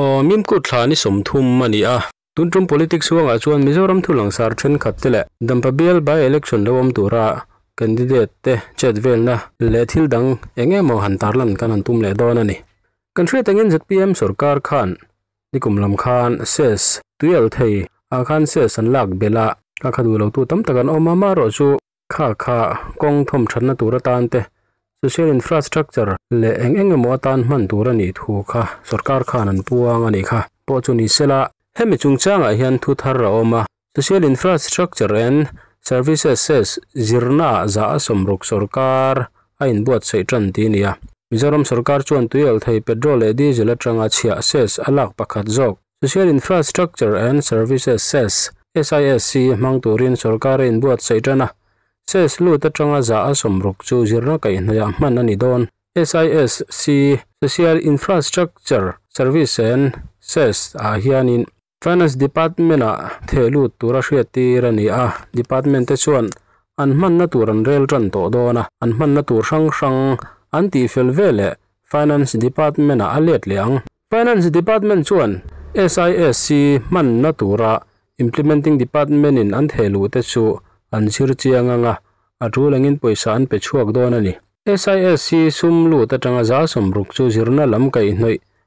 Aww mimkut thla ni sawm thum a ni a. Tun tum politics huangah chuan Mizoram thulangsar thenkhat te leh dampa bial by election lo awm tura candidate te chet velna leh thil dang eng emaw han tarlan kan han tum leh dawn a ni. Kan hriat angin zpm sorkar khan Nikum lam khan sales tui al thei ah khan sales an lak belh a, khakha duh lo tu tam tak an awm a, mah rawh chu khakha kawng thawm thatna tur atan te, social infrastructure leh eng eng emaw atan hman tur a nih thu kha sorkar khan an puang a nih kha pawh chu ni sela. Hemi chungchangah hian thu thar a awm a, Social Infrastructure-and Services-es zirnaah zah a sawm ruk sawrkar a inbuatsaih tan tih nia. Mizoram sawrkar chuan tui alh thei petrol leh diesel atanga chhiah cess a lak pakhat zawk Social Infrastructure and Services Cess, SISC, hmang turin sawrkar a inbuatsaih tan a. Cess lut atanga zah a sawm ruk chu zirna kaih hnaiah hman a ni dawn. SISC, Social Infrastructure Service-en Cess, ah hianin Finance Department ah theh lut tura hriat tir a ni a, Department te chuan an hmanna tur an rel tan tawh dawn a, an hmanna tur hrang hrang an tih fel ve leh Finance Department ah a let leh ang. Finance Department chuan SISC hmanna tura Implementing Department in an theh luh te chu an zir chiang ang a, a tul angin pawisa an pe chhuak dawn a ni. SISC sum lut atanga za sawm ruk chu zirna lam kaihhnawih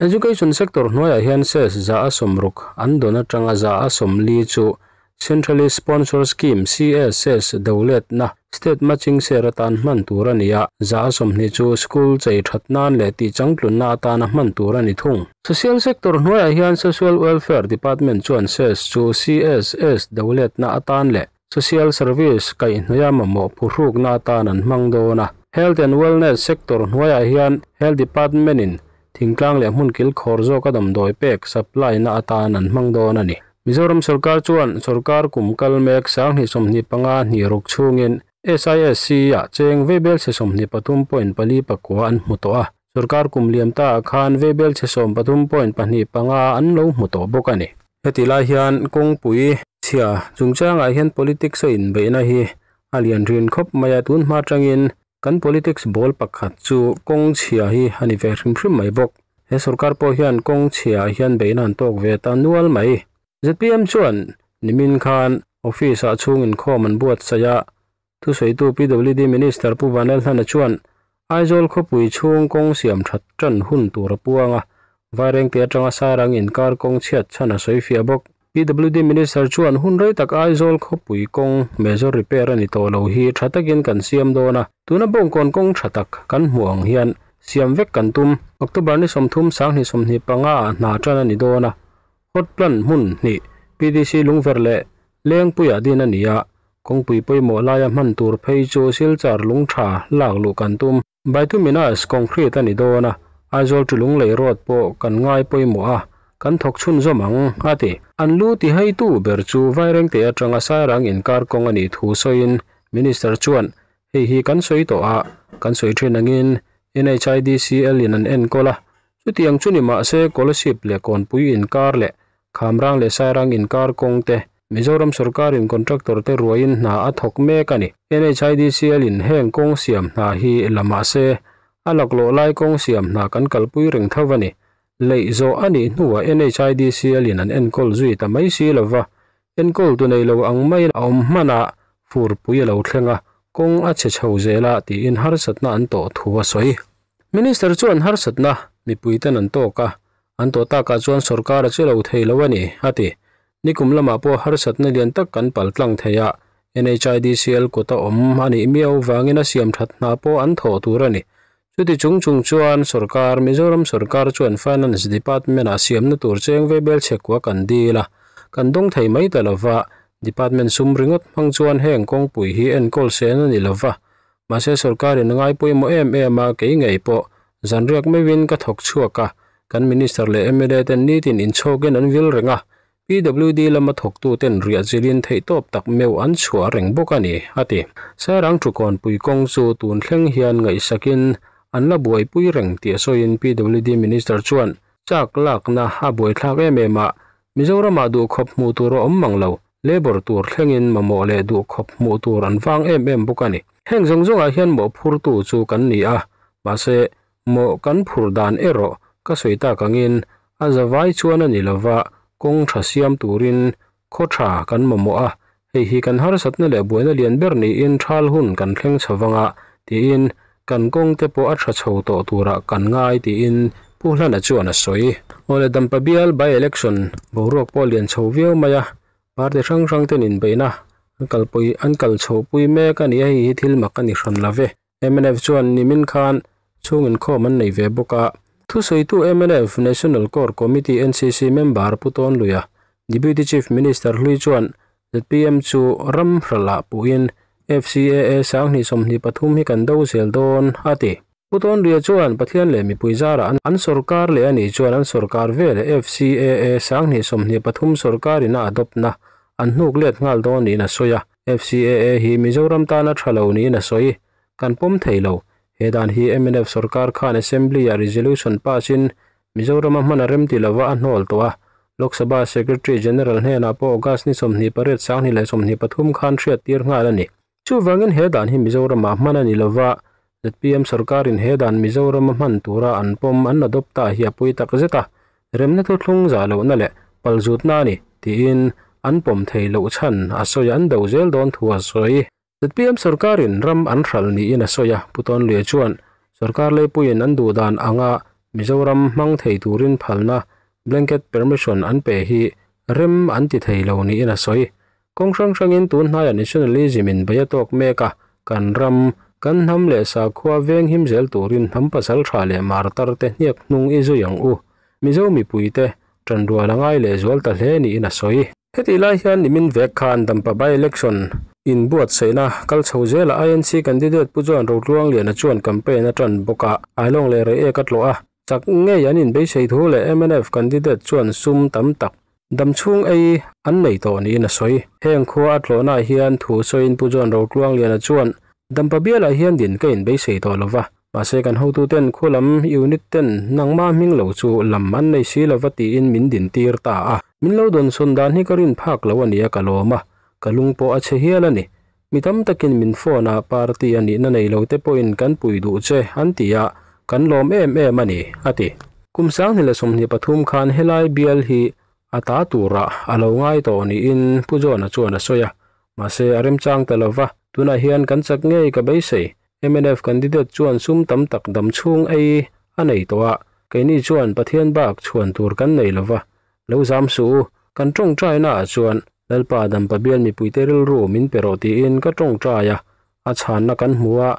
Education sector hnuaiah hian ses zah a sawm ruk an dawn atanga zah a sawm li chu Centrally Sponsored Scheme, CSS, ses do letna, state matching share atan hman tur a ni a. Zah a sawmhnih chu school chei that nan leh tihchang tlunna atan a hman tur a ni thung. Social sector hnuaiah hian Social Welfare Department chuan ses chu CSS do letna atan leh Social service kaihhnaia mamawh phu hrukna atan an hmang dawn a. Health and Wellness sector hnuaiah hian Health Department-in thingtlang leh hmun kilkhawr zawk a damdawi pek, supply-na atan an hmang dawn a ni. Mizoram sorkar chuan sorkar kum kal mek sang hnih sawmhnih panga hnih ruk chhungin SISC-a cheng vei belchhe sawmhnih pathum point pali pakua an hmu tawh a. Sorkar kum liam ta ah khan Vbel chhe sawm pathum point pahnih panga an lo hmu tawh bawk a ni. Heti lai hian kawngpui chhia chungchang ah hian politics a inbeih na hi a lian rin khawp mai a, tun hma tangin kan politics bawl pakhat chu kawng chhia hi a ni ve hrim hrim mai bawk. He sorkar pawh hian kawng chhia ah hian beihna an tawk ve ta nual mai. Zpm chuan nimin khan office ah chhung inkhawm an buatsaih a, Thusawitu PWD Minister Pu Vanlalhana chuan Aizawl khawpui chhung kawng siam that tan hun tur a puang a, Vairengte atanga sarang inkar kawng chhiat chhan a sawi fiah bawk. PWD Minister chuan hun rei tak Aizawl khawpui kawng major repair a ni tawh lo hi tha takin kan siam dawn a, tuna bawngkawn kawng tha tak kan hmu ang hian siam vek kan tum. October ni sawmthum Sanghnih sawmhnih panga ah hna tan a ni dawn a, Hotline hmun hni PDC Lungver leh Lengpuia din a ni a, kawngpui pawimawh laia hman tur phei chu Silchar Lungtha lak luh kan tum. Bituminous concrete a ni dawn a, Aizawl to Lunglei road pawh kan ngai pawimawh a, kan thawk chhun zawm ang, a ti. An lu ti haitu ber chu Vairengte atanga Sairang inkar kawng a nih thu sawiin Minister chuan, Hei hi kan sawi tawh a, kan sawi thin angin NHIDCL-in an enkawl a, Chutiang chu ni mah se Colaship leh Kawnpui inkar leh Khamrang leh Sairang inkar kawng te Mizoram sawrkarin contractor te ruaiin hna a thawk mek a ni. NHIDCL in heng kawng siam hna hi la mah se a laklawh lai kawng siam hna kan kalpui reng tho a ni. Leih zawh a nih hnu ah NHIDCL in an enkawl zui ta mai si lo va, Enkawl tu nei lo ang mai a awm hmana furpui a lo thleng a, kawng a chhe chho zel a tiin harsatna an tawh thu a sawi. Minister chuan harsatna mipuiten an tawk a, an tawh takah chuan sorkar a che lo thei lo a ni, a ti. Nikum lamah pawh harsatna lian tak kan pal tlang thei a, NHIDCL kut a awm a nih miau vangin a siam that hna pawh an thawh tur a ni. Chuti chung chung chuan sorkar, Mizoram sorkar chuan finance department ah siamna tur cheng ve bel chhe kua kan dil a, kan dawng thei mai ta lo va, department sum ringawt hmang chuan heng kawngpui hi enkawl sen a ni lo va, mahse sorkar in a ngai pawimawh em em a, kei ngei pawh zan riak meuhin ka thawk chhuak a, kan minister leh mla ten nitin inchhawk in an vil reng a, PWD lama thawktuten riahzilin theihtawp tak meuh an chhuah a reng bawk a ni, a ti. Sairang Thukawn Pui kawng chu tun thleng hian ngaihsakin an la buaipui reng tih sawiin PWD Minister chuan chak lakna a buaithlak em em a, Mizoramah duh khawp hmuh tur a awm mang lo, labour tur thlengin mamawh leh duh khawp hmuh tur an vang em em bawk a ni. Heng zawng zawngah hian mawhphurtu chu kan ni a, mahse Mawh kan phur dan erawh ka sawi tak angin a za vai chuan a ni lova, kawng tha siam turin khaw tha kan mamawh a, hei hi kan harsatna leh buaina lian ber niin thal hun kan thleng chho vanga tiin kan kawng te pawh a tha chho tawh turah kan ngai tiin Pu Hlana chuan a sawi. Aw le Dampa Bial by election boruak pawh a lian chho viau mai a, party hrang hrang ten inbeihna an kalpui an kal chhoh pui mek a ni a, hei hi thil mak a ni hran love. MNF chuan nimin khan chhung inkhawm an nei ve bawk a. Thusawitu MNF National Core Committee, NCC, member Pu Tawnluia, Deputy Chief Minister Hlui chuan zpm chu ram hralah puhin FCAA sanghnih sawmhnih pathum hi kan do zel dawn a ti. Pu Tawnluia chuan Pathian leh mipui zara an an sorkar leh a nih chuan an sorkar vel FCAA sanghnih sawmhnih pathum sorkarin a adopna an hnuk let nghal dawn niin a sawi a. FCAA hi Mizoram tana tha lo niin a sawi. Kan pawm thei lo. He dan hi mnf sawrkar khan Assembly-ah resolution pass-in Mizorama hman a remti lova a hnawl tawh a. Lok Sabha Secretary General hnenah pawh August ni sawmhnih pariat sanghnih leh sawmhnih pathum khan hriattir nghal a ni. Chuvangin he dan hi Mizoramah hman a ni lova, Zpm sawrkarin he dan Mizorama hman tura an pawm an adopt a hi a pui tak zet a, remna chu thlung zah lohna leh pal zutna a ni tiin an pawm thei loh chhan a sawi a, an do zel dawn thu a sawi. Zpm sawrkarin ram an hral niin a sawi a, Pu Tawnlea chuan sawrkar leipuiin an duh dan anga Mizoram hmang thei turin phalna, blanket permission, an pe hi rem an ti thei lo niin a sawi. Kawng hrang hrangin tun hnaia nationalism in beih a tawk mek a, kan ram, kan hnam leh sakhua veng him zel turin hnam pasal tha leh martar te hniak hnung i zui ang u. Mizo mipui te, tanrual a ngai leh zual ta hle niin a sawi. Hetih lai hian nimin vek khan Dampa by-election in buatsaihna kal chho zela INC candidate Pu Joan Rotluangliana chuan campaign a tan bawk a, Ailawng leh Rei Ek a tlawh a, Chak ngei an inbeisei thu leh mnf candidate chuan sum tam tak dam chhung ei an nei tawh niin a sawi. Heng khua a tlawhnaah hian thu sawiin Pu John Rotluangliana chuan dampa bialah hian din ka inbeisei tawh lo va, mahse kan hotuten khualam unit ten nangma hming lo chu lam an nei si lo va tiin min din tir ta a. Min lo dawnsawn dan hi ka rin phak lo a nia ka lawm a, ka lung pawh a che hial a ni. Mi tam takin min phone a party a nihna nei lo te pawhin kan pui duh che an ti a, kan lawm em em a ni, a ti. Kum sanghnih leh sawmhnih pathum khan helai bial hi a ta tura a lo ngai tawh niin Pu John-a chuan a sawi a, mahse a remchang ta lo va, tunah hian kan chak ngei ka beisei, mnf candidate chuan sum tam tak dam chhung ei a nei tawh a, keini chuan Pathian bak chhuan tur kan nei lo va, lo zam suh u, kan tawngtaina ah chuan Lalpa a dampa bial mipuite rilru min pe rawh tiin ka tawngtai a, a chhanna kan hmu a,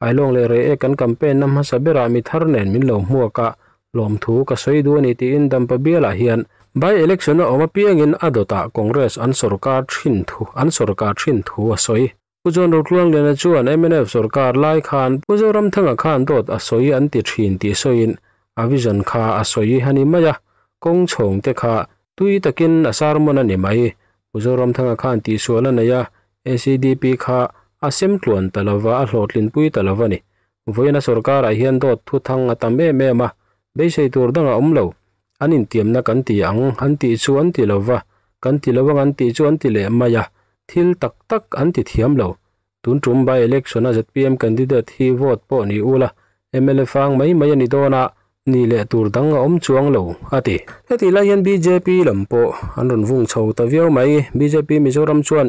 ai lawng leh rei e kan campaign na hmasa berah mi thar nen min lo hmuak a, lawmthu ka sawi duh a ni tiin dampa bialah hian by election a awm apiangin a dawtah Congress an sorkar thin thu an sorkar thin thu a sawi. Pu John Rotluangliana chuan mnf sorkar lai khan Pu Zoramthanga khan dawt a sawi an ti thin tih sawiin a vision kha a sawi a ni mai a, kawng chhawngte kha tui takin a sarmawn a ni mai. Pu Zoramthanga khan tihsual a nei a, ACDP kha a sem tluan ta lo va, a hlawhtlin pui ta lo a ni. Vawiina sorkarah hian dawt thuthang a tam em em a, beisei tur dang a awm lo. An intiamna kan ti ang, an tih chu an ti lo va, kan ti lo ang an tih chu an ti leh mai a, thil tak tak an ti thiam lo. Tun tum by election-a zpm candidate hi vote pawh ni ula, mla fang mai mai a ni dawn a, ni leh tur dang a awm chuang lo, a ti. Hetih lai hian bjp lam pawh an rawn vung chho ta viau mai. Bjp Mizoram chuan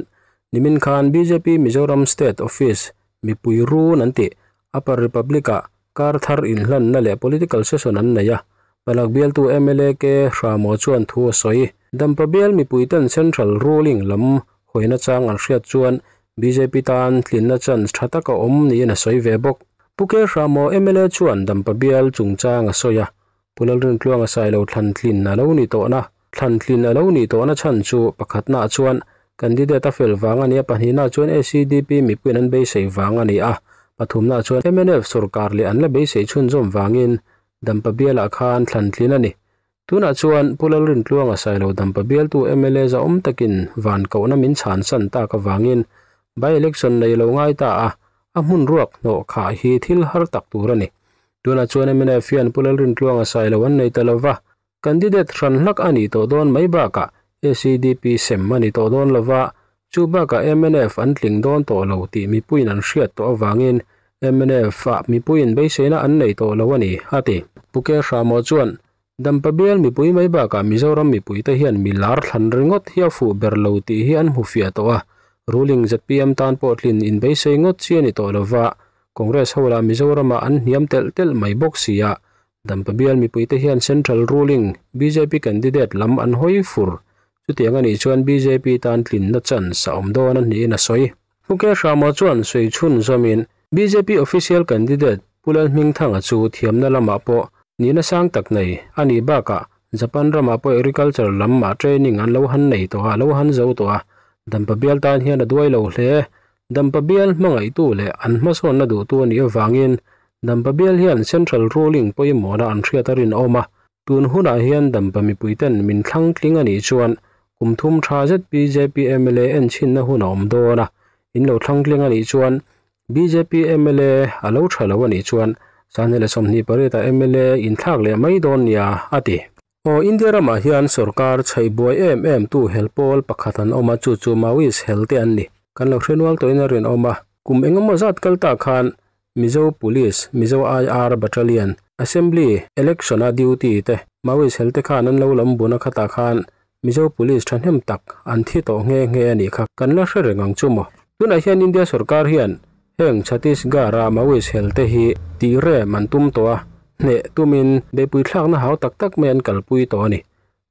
nimin khan bjp Mizoram state office mipui run an tih, Upper Republic-ah Kar thar inhlanna leh political session an nei a, palak bialtu mla K Hramawh chuan thu a sawi. Dampa bial mipuite'n central ruling lam hawina chang an hriat chuan bjp tan tlinna chance tha tak a awm niin a sawi ve bawk. Pu K Hramawh mla chuan dampa bial chungchang a sawi a, Pu Lalreng Tluanga sailo thlan tlin a lo ni tawhna thlan tlin a lo ni tawhna chhan chu pakhatnaah chuan candidate-a fel vang a ni a, pahnihnaah chuan ACDP mipuiin an beisei vang a ni a, pathumnaah chuan mnf sawrkar leh an la beisei chhunzawm vangin dampa bialah khan thlan tlin a ni. Tunah chuan Pu Lalreng Tluanga sailo dampa bialtu mla zahawm takin van kohna min chhan san tak avangin by-election nei lo ngai ta a, a hmun ruak hnawh khah hi thil har tak tur a ni. Tunah chuan Emina e fian pu Lalrin tluang a sai lo an nei ta lo va, candidate hran hlak a ni tawh dawn mai bakah ACDP sem a ni tawh dawn lo va, chu bakah MNF an tling dawn tawh lo tih mipuiin an hriat tawh avangin MNF-a mipuiin beiseina an nei tawh lo a ni, a ti. Pu Kehra-maw chuan Dampa bial mipui mai bakah Mizoram mipuite hian mi lar thlan ringawt hi a fuh ber lo tih hi an hmu fiah tawh a, ruling zpm tan pawh tlin inbeisei ngawt chi a ni tawh lova, Congress ho lah Mizorama an hniam telh telh mai bawk sia, Dampa bial mipuite hian central ruling bjp candidate lam an hawi fur, chutiang a nih chuan bjp tan tlin nachans a awm dawn a hnihin a sawi. Mukesh Rama chuan sawi chhun zawmin bjp official candidate Pu Lalhmingthanga chu thiamna lamah pawh nihna sang tak nei, a nih bakah Japan ramah pawh agriculture lam mah training an lo han nei tawh a, a lo han zo tawh a, dampa bial tan hian a duai lo hle. Dampa bial hmangaihtu leh an hmasawnna duhtu a nih avangin dampa bial hian central ruling pawimawhna an hriat a rinawm a, tun hunah hian dampa mipuiten min thlangtling a nih chuan Kum thum tha zet bjp mla en chhinna hun a awm dawn a, in lo thlang tling a nih chuan bjp mla a lo tha lo a nih chuan sahni leh sawmhnih parit ah mla in thlak leh mai dawn nia a ti. Aw India ram ah hian sawrkar chhaih buai em em tu hel pawl pakhat an awm a chu chu Maoist hel te an ni. Kan lo hre nual tawh in a rinawm a, kum engemaw zat kal ta khan Mizo Police, Mizo IR Battalion, Assembly, Election-a duty te, Maoist hel te khan an lo lam bun a khatah khan Mizo Police thahnem tak an thi tawh nghe nghe a nih kha kan la hre reng ang chu maw? Tunah hian India sawrkar hian heng Chhattisgarh-a Maoist hel te hi tih rem an tum tawh a, hneh tumin bepuithlakna hau tak tak mai an kalpui tawh a ni.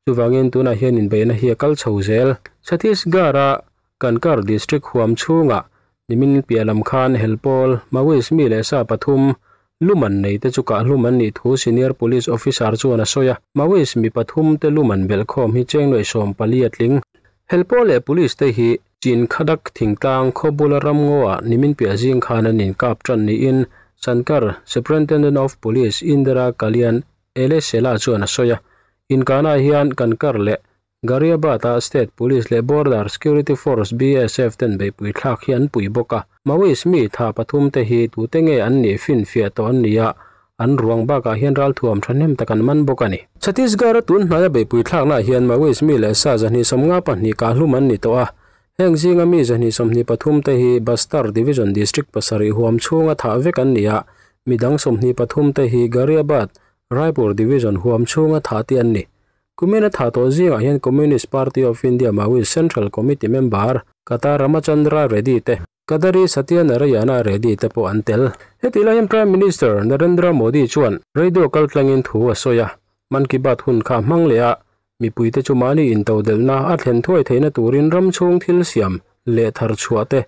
Chuvangin tunah hian inbeihna hi a kal chho zel. Chhattisgarh-a Kanker District huam chhungah nimin piah lam khan Helpawl, Maoist mi leh sa pathum lum an nei te chu kahlum an nih thu Senior Police Officer chuan a sawi a, Maoist mi pathum te lum an belh khawm hi chengnuai sawm pali a tling. Helpawl leh Police te hi Chin Khadak thingtlang khawbula ramngawha nimin piah zing khan an inkap tan niin Sankar Superintendent of Police Indira Kalyan Ele Sela chuan a sawi a, Inkhana hian kan kar leh Gharibata State Police leh Border Security Force, BSF, ten beihpui thlak hi an pui bawk a. Maoist mi tha pathum te hi tute nge an nih finfiah tawh an ni a, an ruang bakah hian ral thuam thahnem tak an man bawk a ni. Chhattisgarh-a tun hnaia beihpui thlaknaah hian Maoist mi leh sa zahnihsawm nga pahnih kahhlum an ni tawh a, Heng zinga mi zahnih sawmhnih pathum te hi Bastar Division District pasarih huam chhunga thah vek an ni a, mi dang sawmhnih pathum te hi Ghaziabad, Raipur Division huam chhunga thah te an ni. Kumina thah tawh zingah hian Communist Party of India Maoist Central Committee member Kata Ramachandra Reddy te, Kadari Satya Narayana Reddy te pawh an tel. Heti lai hian Prime Minister Narendra Modi chuan radio kal tlangin thu a sawi a, Man Ki Baat hun kha a hmang leh a, Mipuite chu mahni intodelhna a thlen thuai theihna turin ramchhung thil siam leh thar chhuah te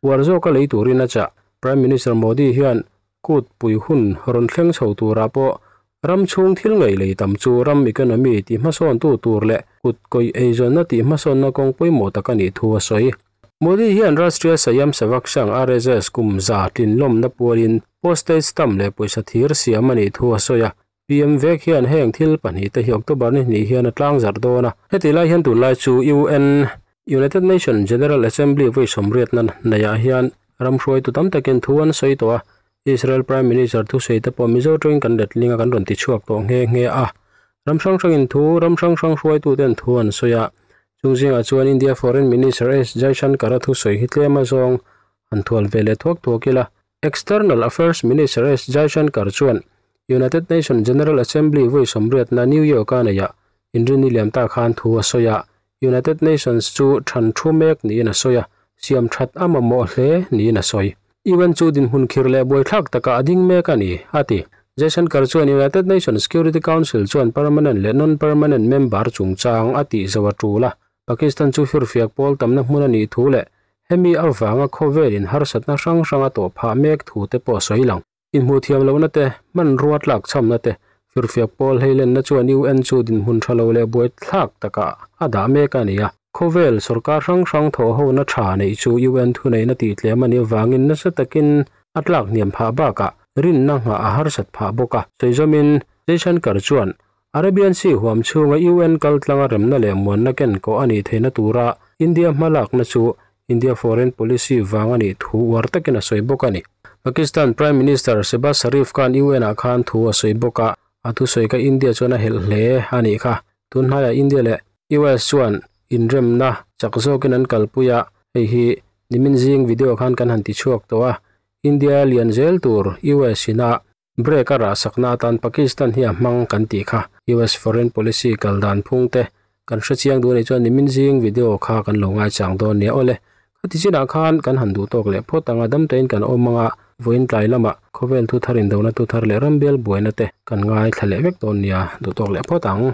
uar zawk a lei turin a chah. Prime Minister Modi hian kut pui hun rawn thleng chho turah pawh ramchhung thil ngeihlei tam chu ram economy tihmasawntu tur leh kut kawih eizawnna tihmasawnna kawng pawimawh tak a nih thu a sawi. Modi hian Rastriya Sayam Sevak Sangh, RSS, kum za tlinlawmna puain postage stamp leh pawisa thir siam a nih thu a sawi a. PM vek hian heng thil pahnih te hi October ni hnih hian a tlang zarh dawn a. Heti lai hian tun lai chu UN, United Nations, General Assembly vawi sawmriatna neiah hian ramhruaitu tam takin thu an sawi tawh a, Israel Prime Minister thusawi te pawh Mizo ṭawngin kan letling a kan rawn tichhuak tawh nghe nghe a. Ram hrang hrangin thu ram hrang hrang hruaitu ten thu an sawi a, chung zingah chuan India Foreign Minister S Jaishankar-a thusawi hi tlem a zawng han thual ve leh thuak thuak ila, External Affairs Minister S Jaishankar chuan United Nations General Assembly vawi sawmriatna New York a neih a inrin ni liam ta khan thu a sawi a, United Nations chu than thu mek niin a sawi a, siam that a mamawh hle niin a sawi. UN chu dinhmun khir leh buaithlak takah a ding mek a ni, a ti. Jaishankar chuan United Nations Security Council chuan permanent leh non-permanent member chungchang a tihzo a tul a, Pakistan chu hirhfiak pawl tamna hmun a nih thu leh hemi avanga khawvel inharsatna hrang hranga tawh phah mek thu te pawh sawi lang. Inhmuhthiam lohna te, hmanrua tlak chhamna te, hirhfiak pawl hleilenna chuan UN chu dinhmun tha lo leh buai thlak takah a dah mek a ni a. Khawvel sorkar hrang hrang thawhhona tha neih chu UN thuneihna tih tlem a nih avangin nasa takin a tlak hniam phah bakah rinna nghah a harsat phah bawk a. Sawi zawmin Jaishankar chuan Arabian Sea huam chhunga UN kaltlanga remna leh muanna ken kawh a nih theihna tura India hma lakna chu India Foreign Policy vang a nih thu uar takin a sawi bawk a ni. Pakistan Prime Minister Shehbaz Sharif khan UN-ah khan thu a sawi bawk a, a thu sawi kha India chuan a helh hle a nih kha. Tun hnaiah India leh US chuan inremna chak zawkin an kalpui a, hei hi nimin zing video khan kan han ti chhuak tawh a, India lian zel tur US-inah Break a rah sakna atan Pakistan hi a hmang kan tih kha US foreign policy kal dan phung te kan hre chiang duh a nih chuan nimin zing video kha kan lo ngai chang dawn nia awle khati chinah khan kan han duh tawk leh phawt ang a dam taiin kan awm anga vawiin tlai lamah khawvel thu thar indona thu thar leh rambial buaina te kan ngai thla leh vek dawn nia duh tawk leh phawt ang.